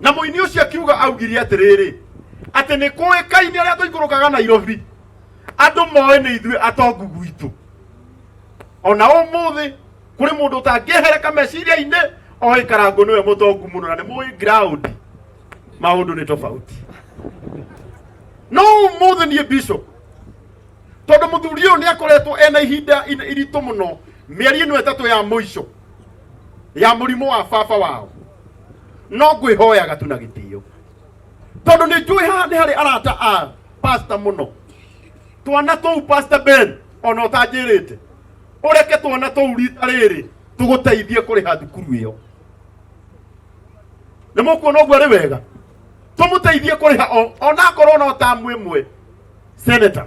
na mũini ũcio akiuga augire atĩrĩrĩ atĩ nĩ kũĩkaine arĩa tũikũrũkaga nairobi andũ moĩ nĩ ithuĩ atongu gwitũ ona ũmũthĩ kũrĩ mũndũ ũtangĩhereka meciria-inĩ oĩ karango nĩwe mũtongu mũno na nĩ mũĩ ground maũndũ nĩ tofauti no ũmũthĩ niĩ bishop tondå må thuri å yå nä akoretwo ena ihinda in- iritå må no mä eri ä no ätatå ya må ico ya mũrimũ wa baba wao no ngwĩhoyaga tu na gĩtĩo tondũ nĩ njũĩ haha nĩ harĩ arata a pasta mũno twana tũu pasta ben ona ũtanjĩrĩte ũreke twana tũu rita rĩrĩ tũgũteithie kũrĩha thukuru ĩyo nĩ mũkuona ũguo arĩ wega tũmũteithie kũrĩha o- onakorwo no tamu ĩmwe seneta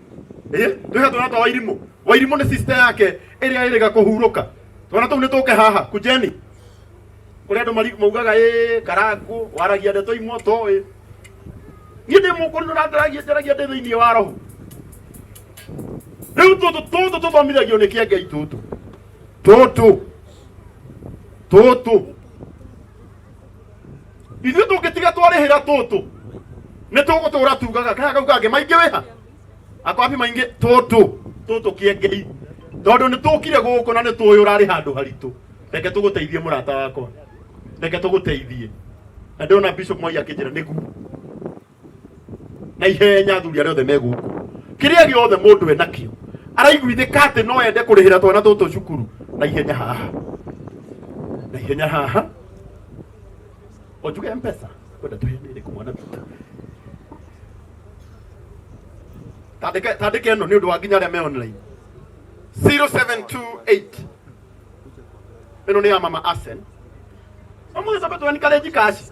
eh tuha twana twa wairimu wairimu ni sister yake iria iriga kuhuruka twana tou ni tuke haha kujeni kuri andu mari- maugaga eh karangu waragia ndeto imwe toĩ niĩ ndĩ mũkũrũ na ndaragia ndaragia ndĩ thĩinĩ wa roho rĩu tũtũ tũtũ tũthomithagio nĩ kĩa ngai tũtũ tũtũ tũtũ ithuĩ tũngĩtiga twarĩhĩra tũtũ nĩ tũgũtũra tugaga kana kau kangĩ maingĩ wĩha akwambi maingĩ tũtũ tũtũ kĩengei tondũ nĩ tũkire gũkũ na nĩ tũĩ ũrarĩ handũ haritũ reke tũgũteithie mũrata wakwa reke tũgũteithie na ndĩrona bishop mwai akĩnjĩra nĩguo na ihenya athuri arĩa othe me gũkũ kĩrĩa gĩothe mũndũ enakĩo araiguithĩka atĩ no ende kũrĩhĩra twana tũtũ cukuru na ihenya haha na ihenya haha onjuge mpesa kwenda tũhene ĩrĩkũ mwana witũ tandĩke tandĩke ĩno nĩ ũndũ wa nginya arĩa me online 0728 ĩno nĩ ya mama Asen amweza betwani kale jikashi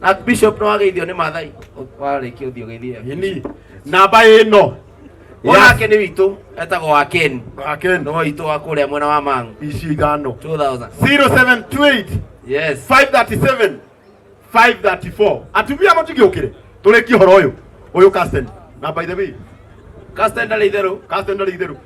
na bishop no ageithio nĩ mathai warĩkia ũthiũ gĩthie ni namba ĩno mwana Yes. wake nĩ witũ etagwo wa ken akeni nĩ witũ wa kũrĩa mwena wa mangu ici ithano 2000 0728 yes 537 534 atumia mũtigĩũkĩre tũrĩkie ũhoro ũyũ ũyũ kasten na by the way kasten ndarĩ itherũ kasten ndarĩ itherũ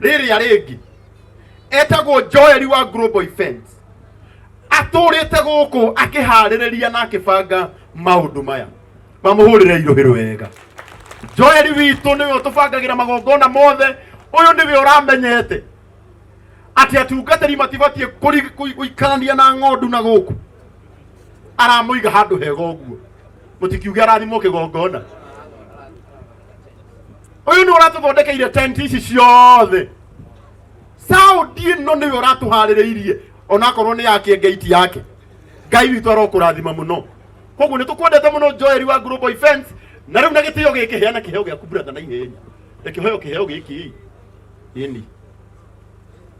rĩrĩa rĩngĩ etagwo joeli wa global events atũrĩte gũkũ akĩharĩrĩria na akĩbanga maũndũ maya mamũhũrĩre irũhĩrũ wega joeli witũ nĩwe ũtũbangagĩra magongona mothe ũyũ nĩwe ũramenyete atĩ atungatĩri matibatiĩ kũri- kũi- gũikarania na ng'ondu na gũkũ aramũiga handũ hega ũguo mũtikiuge arathimwo kĩgongona uyu ni uratuthondekeire tent ici ciothe sound ino niwe uratuhaririirie onakorwo ni yake gate yake ngai witũ arokũrathima mũno koguo nĩ tũkwendete mũno joeri wa global events na rĩu na gĩtĩo gĩkĩ heana kĩheo gĩaku brother na ihenya na kĩheo kĩheo gĩkĩ ĩni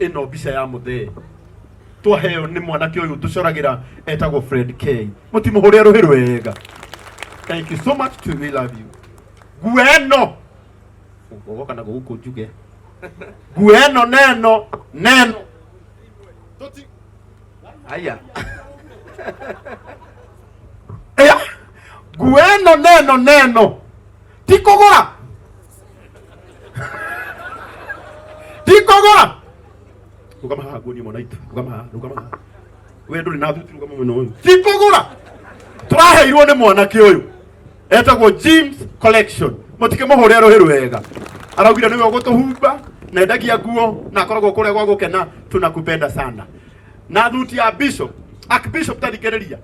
ĩno mbica ya mũthee twaheo nĩ mwanake ũyũ tũcoragira etagwo Fred K mũtimũhũrĩa rũhĩ rwega thank you so much to we love you nguo ĩno ũgoka na gũkũ njuge nguo ĩno neno neno Tũti- aya Aya. nguo ĩno neno neno ti kũgũra tikogora rugama haha nguonie mwana itũ rugama haha rugama haha we ndũrĩ na thuti rugama mwena ũyũ tikogora tũraheirwo nĩ mwanake ũyũ etagwo James Collection mũtikĩ mũhũre rũhĩ rwega araugire nĩwe ũgũtũhumba na endagia nguo na akoragwo kũrĩa gwa gũkena tunakupenda sana na thuti ya bishop archbishop tarikĩrĩria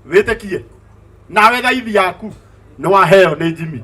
wĩtĩkie nawe thaithi yaku nĩ waheo nĩ Jimmy